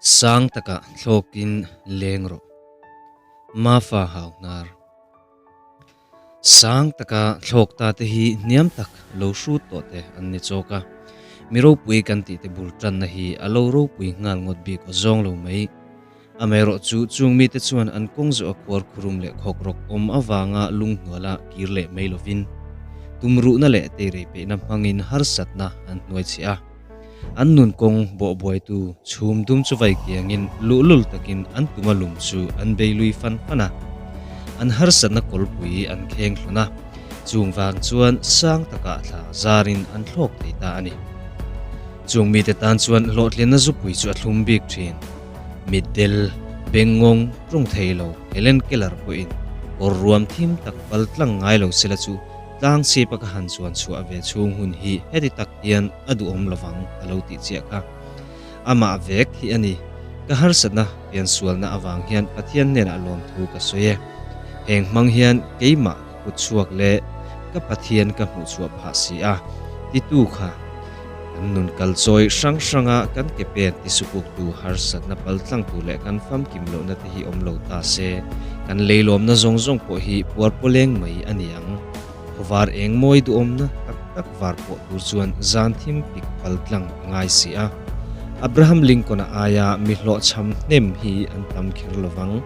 Sang taka thlawkin leng rawh. Mafa hau hnar. Sang taka thlawk ta te hi hniam tak lo hrut tawh te an ni chawk a, mi ropui kan tih te bul tanna hi a lo ropui nghal ngawt bik aw zawng lo mai. Amaherawh chu, chung mite chuan an kawng zawh a khuar khurum leh khawk rawk awm avanga lunghnuala kir leh mai lovin tumruhna leh teirei peihna hmangin harsatna an hnuai chhe a. An nun kawng bawhbuaitu chhum dum chu vai kiangin luh lul takin an tuma lum chu an bei lui fan fan a, an harsatna kawlpui an kheng hlawn a, chungvang chuan sang taka thla zarin an thlawk thei ta a ni. Chung mite tan chuan hlawhtlinna zupui chu a thlum bik thin. Mitdel, Bengawng, ṭung thei lo, Helen Keller pawhin kawr ruam thim tak pal tlang ngai lo sela chu tlang chhipa ka han chuan chhuah ve chhung hun hi heti tak hian a duhawm lovang a lo tih chiah kha. Amah vek hi a ni, ka harsatna fiansualna avang hian Pathian hnenah lawmthu ka sawi e, heng hmang hian keimah kut chhuak leh ka Pathian ka hmuh chhuah phah si a titu kha kan nun kal chawi hrang hranga kan ke pen ti supuktu harsatna pal tlang tur leh kan famkim lohna te hi awm lo ta se kan leilawmna zawng zawng pawh hi puar pawleng mai a niang. Khawvar eng mawi duhawmna tak tak var pawh tur chuan zan thim pik pal tlang a ngai si a. Abraham Lincoln-a aia mi hlawhchham hnem hi an tam kher lovang.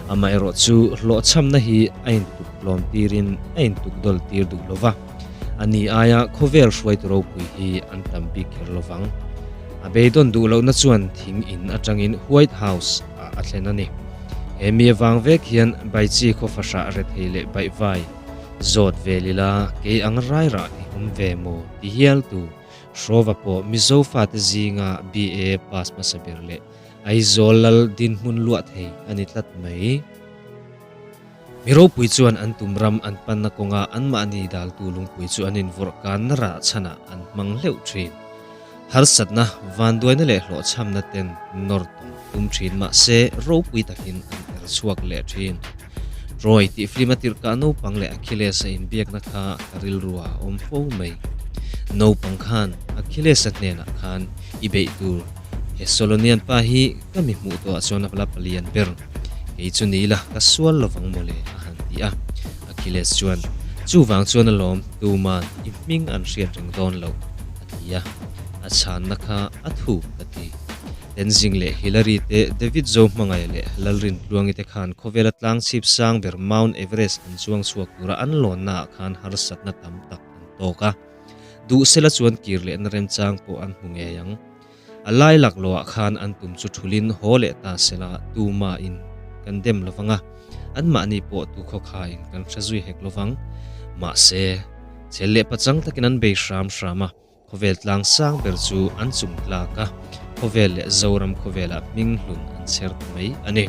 Amaherawhchu, hlawhchhamna hi a intuktlawm tirin a intukdawl tir duh lo va, a ni aia khawvel hruaitu ropui hi an tam bik kher lo vang. A beidawn duh lohna chuan thing in atangin White House ah a thlen a ni. He mi avang vek hian Baichi khaw fahrah rethei leh baihvai zawt vel ila kei ang rairah i hum ve maw ti hial tu hrawva pawh Mizo fate zinga BA pass hmasa ber leh Aizawl lal dinhmun luah thei a ni tlat mai. Mi ropui chuan an tum ram an panna kawnga anmahni daltu lungpui chu an invawrh kanna rah chhanah an hmang hleuh thin. Harsatna, vanduaina leh hlawhchhamna ten nawr tawng tum thin mahse ropui takin an er chhuak leh thin. Troy tih film a tirhkah naupang leh Achilles a inbiakna kha ka rilru a awm fo mai. Naupang khan Achilles-a hnenah khan i beih tur Thessalonian pa hi ka mi hmuh tawhah chuan a vala pali an ber. Kei chu ni ila ka sual lo vang mawle a han ti a. Achilles chuan, Chuvang chuan a lawm, tuman i hming an hriat reng dawn lo, a ti a. A chhanna kha a thu ka ti. Tenzing leh Hillary te, David Zo hmangaih leh Lalrin Tluangi te khan khawvela tlang chhip sang ber Mount Everest an chuang chhuak tura an lawnnaah khan harsatna tam tak an tawk a. Duh sela chuan kir leh na remchang pawh an hmu ngei ang. A lai lak lawah khan an tum chu thulin haw leh ta sela tuma in kan dem lo vang a, anmahni pawh tu khawkha in kan hre zui hek lo vang. Mahse, chhel leh pachang takin an bei hram hram a. Khawvel tlang sang ber chu an chung tlak a, khawvel leh Zoram khawvelah hming hlun an chher ta mai a ni.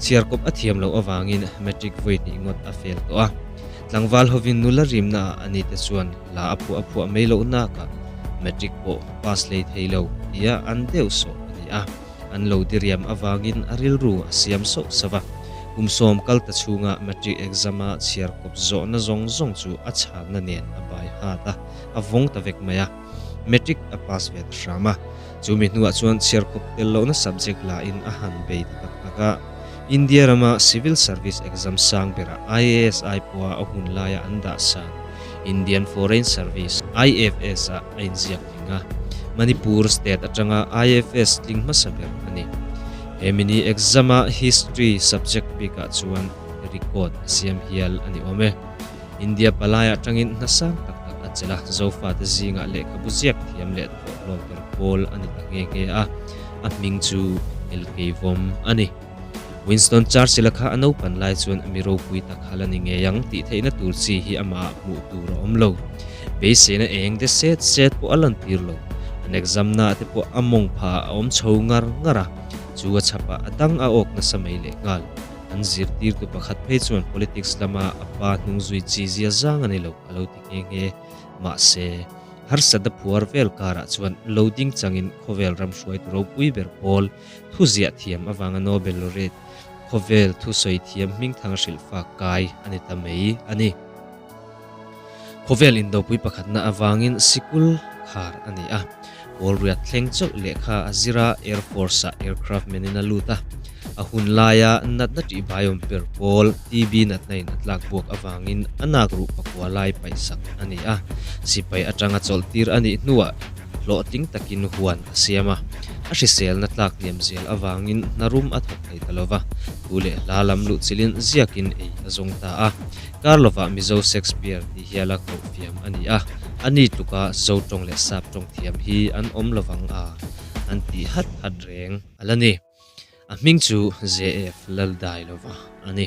Chhiar kawp a thiam loh avangin Matric vawi hnihngot a fel tawh a. Tlangval hovin nula rimna ah a ni te chuan hla a phuah a phuah mai loh nak ah Matric pawh pass hlei thei lo tia an deuh sawh a ni a, an lo diriam avangin a rilru a siam sauh sauh a. Kum sawm kal ta chhunga Matric exam a chhiar kawp zawhna zawng zawng chu a chhakna nen a bai hat a. a vawng ta vek mai a, Matric a pass ve ta hram a. Chu mi hnuah chuan chhiar khawp tel lohna subject lahin a han bei ta tak tak a. India rama Civil Service Exam sang berah IAS Aipua a hun laia an dah san Indian Foreign Service, IFS, ah a inziak tling a. Manipur State atanga IFS tling hmasa ber a ni. He mini exam a History subject bikah chuan record a siam hial a ni awm e. India palai atangin hna sang tak tak a chelh a, Zofa te zingah lehkhabu ziak thiam leh thawh hlawmper pawl a ni ta nghe nghe a, a hming chu Elkei Vawm a ni. Winston Churchill-a kha a naupan lai chuan a mi ropui tak hal a ni ngei ang tih theihna tur chi hi amahah hmuh tur a awm lo. Beiseina eng de set set pawh a lantir lo, an examna te pawh a mawngphah a awm chho ngar ngar a, chu a chhapah a dang a awk nasa mai lehnghal. An zirtirtu pakhat phei chuan politics lama a pa hnung zui chi zia zang a ni lo, a lo ti nghe nghe. Mahse, harsatna phuar vel karah chuan lo ding changin khawvel ram hruaitu ropui ber pawl thuziah thiam avanga Nobel Laureate khawvel thusawi thiam hmingthang a hrilh fak kai a ni ta mai a ni. Khawvel indopui pakhatna avangin sikul khar a ni a, Kawlriat thleng chauh lehkha a zir a, Air Force-ah Aircraft Man-in a lut a, a hun laia natna tihbaiawm per pawl TB natnain a tlak buak avangin a nakruh pakua lai paihsak a ni a, sipai atanga chawlhtir a nih hnuah hlawhtling takin huan a siam a, a hriselna tlak hniam zel avangin hnarum a thawk thei ta lo va, thu leh hla lam luh chilhin ziakin ei a zawng ta a, Karlova Mizo Shakespeare tih hial a koh fiam a ni a, a ni tluka Zo tawng leh Sap tawng thiam hi an awm lovang a, an tih hat hat reng a la ni. A hming chu ZF Laldailova a ni.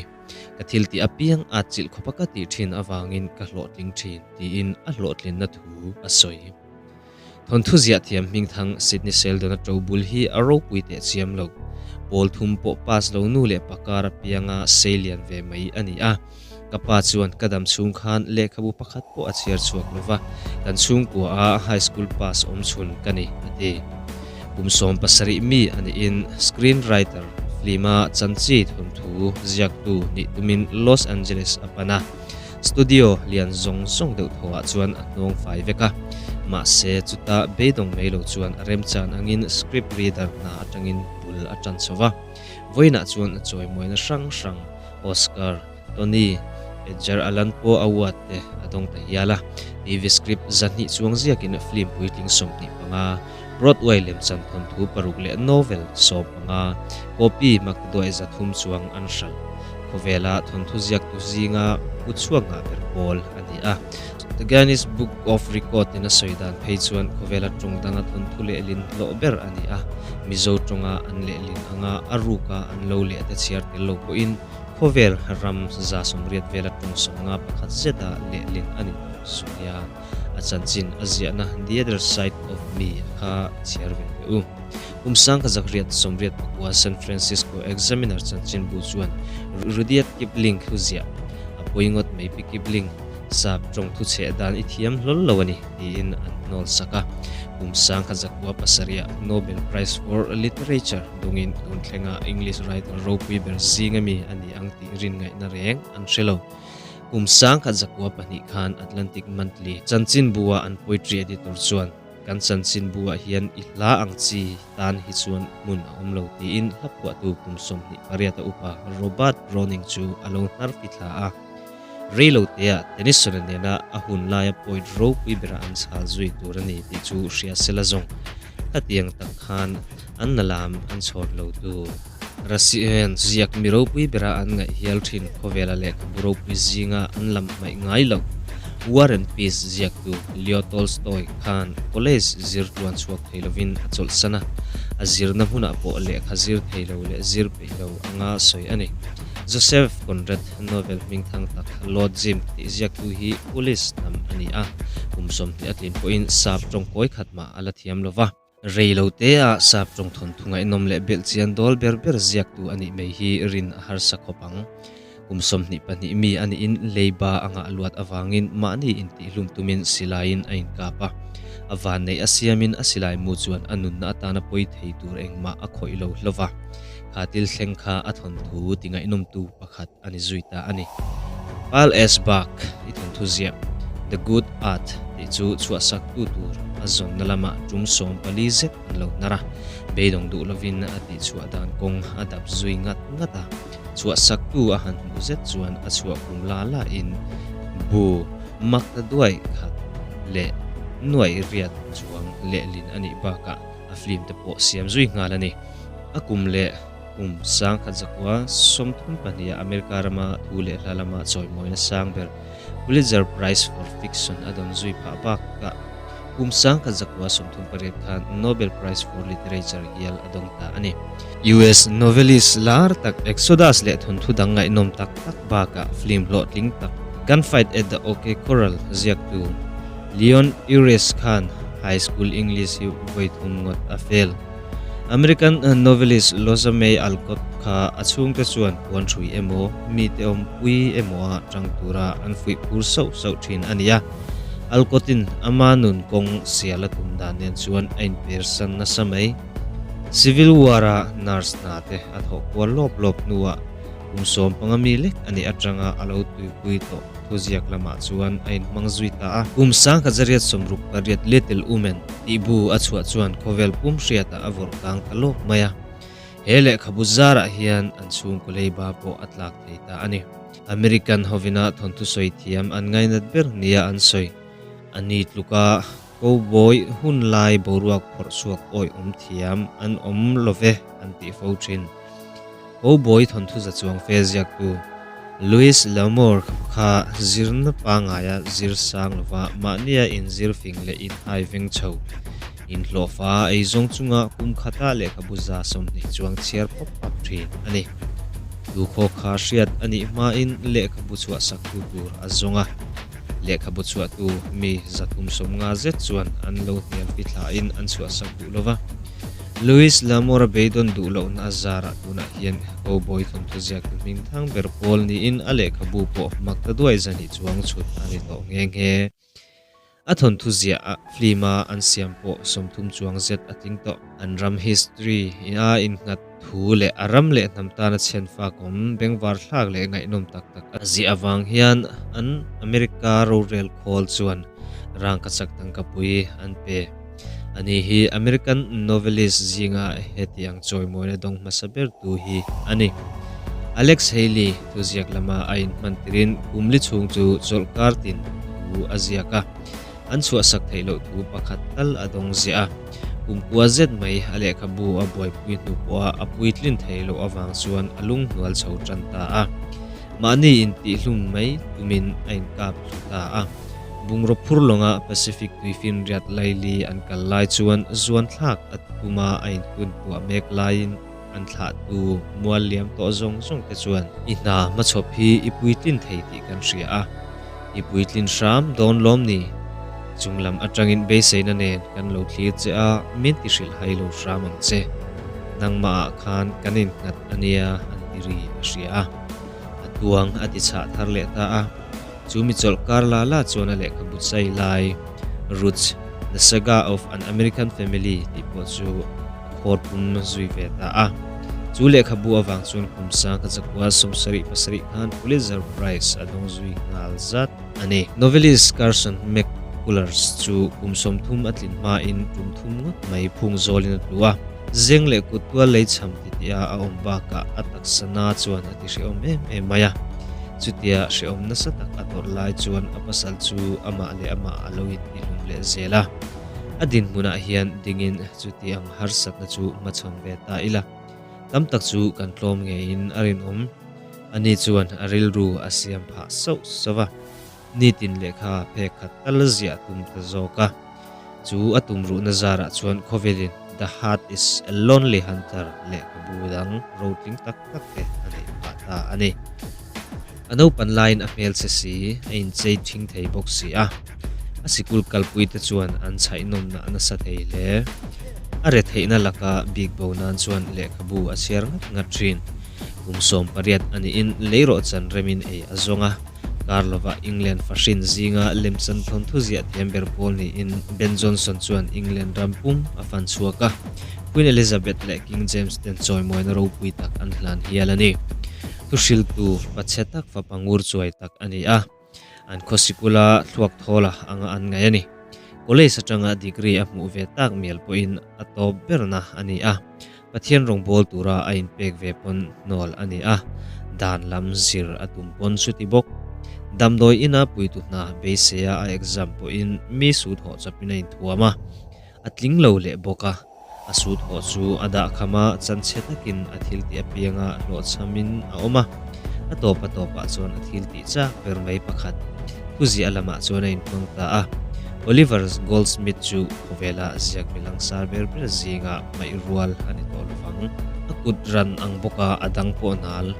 Ka thil tih apiang a chilh khawp a ka tih thin avangin ka hlawhtling thin, tiin a hlawhtlinna thu a sawi. Thawnthu ziah thiam hming thang Sydney Seldon a to bul hi a ropui teh chiam lo. Pawl thum pawh pass lo nu leh pa kar apianga sei lian ve mai a ni a. Ka pa chuan ka dam chhung khan lehkhabu pakhat pawh a chhiar chhuak lova, kan chhungkuaha high school pass awm chhun ka ni, a ti. Kum sawm pasarih mi a nihin screen writer, flim-a chanchi thawnthu ziaktu nih tumin Los Angeles a pan a. Studio lian zawng zawng deuh tho ah chuan a hnawng fai vek a, mahse chuta beidawng mai lo chuan a remchan angin script reader hna atangin bul a tan chho va. Vawiinah chuan chawimuaina hrang hrang, Oscar, Tony, Edger Allan pawh a uat te a dawng ta hial a, TV script zahnih chuang ziakin film puitling sawmhnih panga, Broadway lem chanthawng thu paruk leh novel sawm anga copy mak duai za thum chuang an hral. Khawvela thawnthu ziaktu zinga pu chhuak ngah ber pawl a ni a. The Guinness Book of Record in a sawi dan phei chuan khawvela tawng danga thawnthu lehlin hlawh ber a ni a. Mizo tawnga an lehlin anga a ruka an lo leh te chhiar tel lo pawhin khawvel ram za sawmriat vela tawng sawmnga pakhat zeta lehlin a ni tawh zui a. a chanchin a ziahna The Other Side of Me kha chhiar ve ve u. Pumsang ka zakriat sawmriat pakua San Francisco Examiner chanchin bu chuan Rudyard Kipling thu ziah a pawingawt mai pi Kipling sap tawng thuchheh dan i thiam hlawl lo a ni tiin an hnawlsak a. Pumsang kha zakua pasarih ah Nobel Prize for Literature dawngin tun thlenga English writer ropui ber zinga mi a ni ang tih rinngaihna reng an hre lo. Kum sangkhat zakua pahnih khan Atlantic Monthly, Chanchinbu-a an poetry editor chuan, Kan Chanchinbu-ah hian i hla ang chi tan hi chuan hmun a awm lo tiin hlaphuahtu kum sawmhnih pariata upa Robert Browning chu a lo hnarphi thla a. Rei lo teah Tennyson-a nena a hun laia poet ropui berah an chhal zui tur a ni tih chu hria sela zawng khatiang tak khan an la lam an chhawr lo tu. Russia hian ziak mi ropui berah an ngaih hial thin khawvela lehkhabu ropui zinga an lam hmaih ngai loh War and Peace ziaktu Leo Tolstoy khan college zirtuan chhuak thei lovin a chawlhsan a, a zirna hmunah pawh lehkha zir thei lo leh zir peih lo anga sawi a ni. Joseph Conrad novel hming thang tak Lord Jim tih ziaktu hi Polish hnam a ni a, kum sawmhnih a tlin pawhin sap tawngkawi khatmah a la thiam lova. Rei lo te a sap tawng thawn thu ngaihnawm leh belh chian dawl ber ber ziak tu a nih mai hi rin a harsa khawp ang. Kum sawmhnih pahnih mi a nihin leiba a ngah luat avangin mahni intihhlum tumin silaiin a inkap a. A vanneih a siamin a silai mu chuan a nunna atana pawi thei tur engmah a khawih lo hlova. Khatil thleng kha a thawn thu ti ngaihnawmtu pakhat. a ni zui ta a ni. Carl S. Bargh i thawnthu ziah The Good Art tih chu chhuahsaktu tur a zawnna lamah tum sawm pali zet an lo hnar a, beidawng duh lovin a tihchhuah dan kawng a dap zui ngat ngat a, chhuahsaktu a han hmuh zet chuan a chhuah kum la la in bu makta duai khat leh nuai riat chuang lehlin a nih bakah a film te pawh siam zui nghal a ni. A kum leh. Kum sangkhat zakua sawmthum pahniha America rama thu leh hla lama chawimawina sang ber Pulitzer Prize for Fiction a dawn zui phah bak a. Kum sangkhat zakua sawmthum pariat khan Nobel Prize for Literature hial a dawng ta a ni. US novelist lar tak Exodus leh thunthu dang ngaihnawm tak tak baka film hlawhtling tak Gunfight at the OK Corral ziaktu Leon Uris khan high school English hi vawi thum ngawt a fel. American novelist Loza May Alcott kha a chhungte chuan puan hrui emaw, mite awmpui emawa tang tura an fuih phur sauh sauh thin a ni a. Alcott-in ama nun kawng sial a tum dan nen chuan a inpersan nasa mai. Civil War-a nurse hnate a thawh kual lawp lawp hnuah kum sawm panga mi lek a nih atanga a lo tuipui tawh. thu ziak lamah chuan a inhmang zui ta a. Kum sangkhat zariat sawm ruk pariat Little Women tih bu a chhuah chuan khawvel pum hriatah a vawrh kang ta lawk mai a. He lehkhabu zarah hian an chhungkaw leiba pawh a tlak thei ta a ni. American hovina thawnthu sawi thiam an ngainat ber nia an sawi a ni tluk a. Cowboy hun lai boruak phawrh chhuak awih awm thiam an awm lo ve an tih fo thin. Cowboy thawnthuza chuang fel ziaktu Louis L'Amour kha zirna pangaia zir sang lova mahnia inzir fing leh inhai veng chho, inhlawhfa eizawng chunga kum khata lehkhabu za sawmhnih chuang chhiar phap phap thin a ni. Tukhawkha hriat a nih hmain lehkhabu chhuahsaktu tur a zawng a. Lehkhabu chhuahtu mi zathum sawmnga zet chuan an lo hniampi thlahin an chhuahsak duh lo va. Luis Lamora beidawn duh lohna a zarah tunah hian Cowboy thawmthaziak tu hming thang ber pawl niin a lehkhabu pawh mak ta duai zani chuang chhut a ni tawh nghe nghe. A thawnthuziahah film-a an siam pawh sawmthum chuang zet a tling tawh. An ram history-a innghat. Thu leh a ram leh hnam tana chhian fak awm, bengvar thlak leh ngaihnawm tak tak a ziah avang hian an America rorel khawl chuan rangkachak tangkapui an pe. A ni hi American novelist zinga heti ang chawimawina dawng hmasa bertu hi a ni. Alex Haley thuziak lama a inhman tirin Kumli chhung chu chawlhkar tin thu a ziak a. an chhuahsak theih loh thu pakhat tal a dawng ziah a. Pumkhua zet mai a lehkhabu a buaipui hnu pawha a puitlin thei loh avang chuan a lung hnual chho tan ta a. Mahni intihhlum mai tumin a inkap thlu ta a. Bungraw phur lawnga Pacific tui finriat laili an kal lai chuan zuanthlak a tum a a inhun tuah mek laiin, An thlahtu mual liam tawh zawng zawng te chuan i hna hmachhawp hi i puitlin thei tih kan hria a, i puitlin hram dawn lawm ni? Chung lam atangin beiseina nen kan lo thlir che a, min ti hrilh hai lo hram ang che. Nangmahah khan kan innghat a nia, an ti ri a hria a. A tuang a ti chhah thar leh ta a. chu mi chawlh kar la la chuan a lehkha but sa i lai. Ruth, the saga of an American family tih pawh chu a khawr pum zui ve ta a. Chu lehkha bu avang chuan kum sang kha chakua sum sarih pasarih khan Pulitzer Prize a dawng zui nghal zat a ni. Novelist Carson McCullers chu kum sawmthum a tlin hmain tum thum ngawt mai phung zawlin a tlu a. Zeng leh kut tual lei chham ti tia a awm bakah a taksa na chuan a ti hrehawm em em mai a. Chutia hrehawm nasa tak a tawrh lai chuan a pasal chu amah leh amah a lo intihlum leh zel a. A dinhmunah hian dingin chuti ang harsatna chu hma chham ve ta ila. Tam tak chu kan tlawm ngeiin a rinawm. Ani chuan a rilru a siam phah sauh sauh a. nitin lehkha phek khat tal zia a tum ta zawk a, chu a tum ruhna zarah chuan Khovelin The Heart Is A Lonely Hunter leh ka bu dang rotling tak tak te a neih phah ta a ni. A naupan laiin a hmel se si, a inchei thing thei bawk si a, a sikul kalpui te chuan an chhainawmna a nasa thei hle. A retheihna laka bik bo nan chuan lehkha bu a chhiar ngat ngat thin. Kum sawm pariat a nihin lei rawh chanremin ei a zawng a. Karlova England fahrin zinga lem chan thawn thu ziah thiam ber pawl niin Ben Johnson chuan England ram pum a fan chhuak a, Queen Elizabeth leh King James ten chawimuaina ropui tak an hlan hial a ni. Thu hriltu fa chhe tak fa pangur chuai tak a ni a, an khaw sikula thluak thawla anga an ngaih a ni. College atanga degree a hmuh ve tak mial pawhin a tawp berna a ni a, Pathian rawngbâwl tûra a inpêk ve pawn nawl a ni a, dân lam zir a tum pawn chu ti bawk. Damdawi ina puitu hna beiseia a exam pawhin mi sut hawh chapin a inthuam a, a tling lo leh bawk a. A sut hawh chu a dah khama chanchhe takin a thil tih apianga hlawhchhamin a awm a, a tawpa tawpah chuan a thil tih châk ber mai pakhat thuziah lamah chuan a inhmang ta a. Oliver Goldsmith chu khawvêla ziak mi langsar ber ber zîngah, ngaihrual a ni tawh lovang. A kut ran ang bawk a, a dang pawh nal.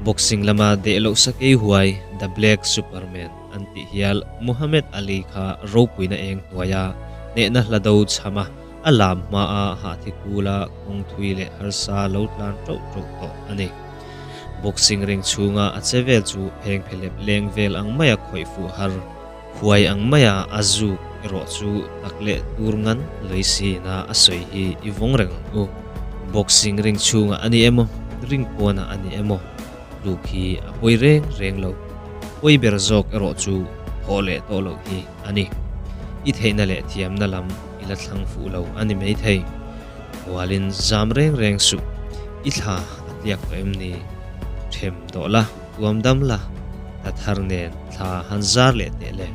Boxing lama dehlohsa kei huai The Black Superman an tih hial Muhammad Ali kha ropuina eng hnuai a, hnehna hla do chham a, a lam hmaa hahthi kul a kawng thui leh harsa lo tlan ṭauh ṭauh tawh a ni. Boxing ring chhunga a che vel chu phengphe lep leng vel ang maia khawih fuh har. Huai ang mai a a zuk erawh chu tak leh tur ngan lei si ina a sawi hi i vawng reng ang u. Boxing ring chhungah a ni em aw, ring pawnah a ni em aw, tluk hi a pawi reng reng lo. Pawi ber zawk erawh chu thawh leh tawh loh hi a ni. I theihna leh thiamna lam i la thlang fuh lo a ni maithei. Bualin zam reng reng suh i thla a tliak tawh em ni? Ṭhem tawh la. tuam dam la, ta thar nen thla han zar leh teh le,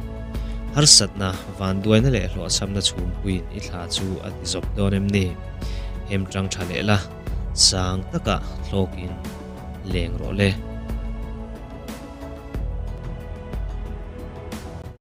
harsatna, vanduaina leh hlawhchhamna chhum puiin i thla chu a ti zawp dawn em ni? Hem tang tha leh la, sang taka hlawkin leng rawh le.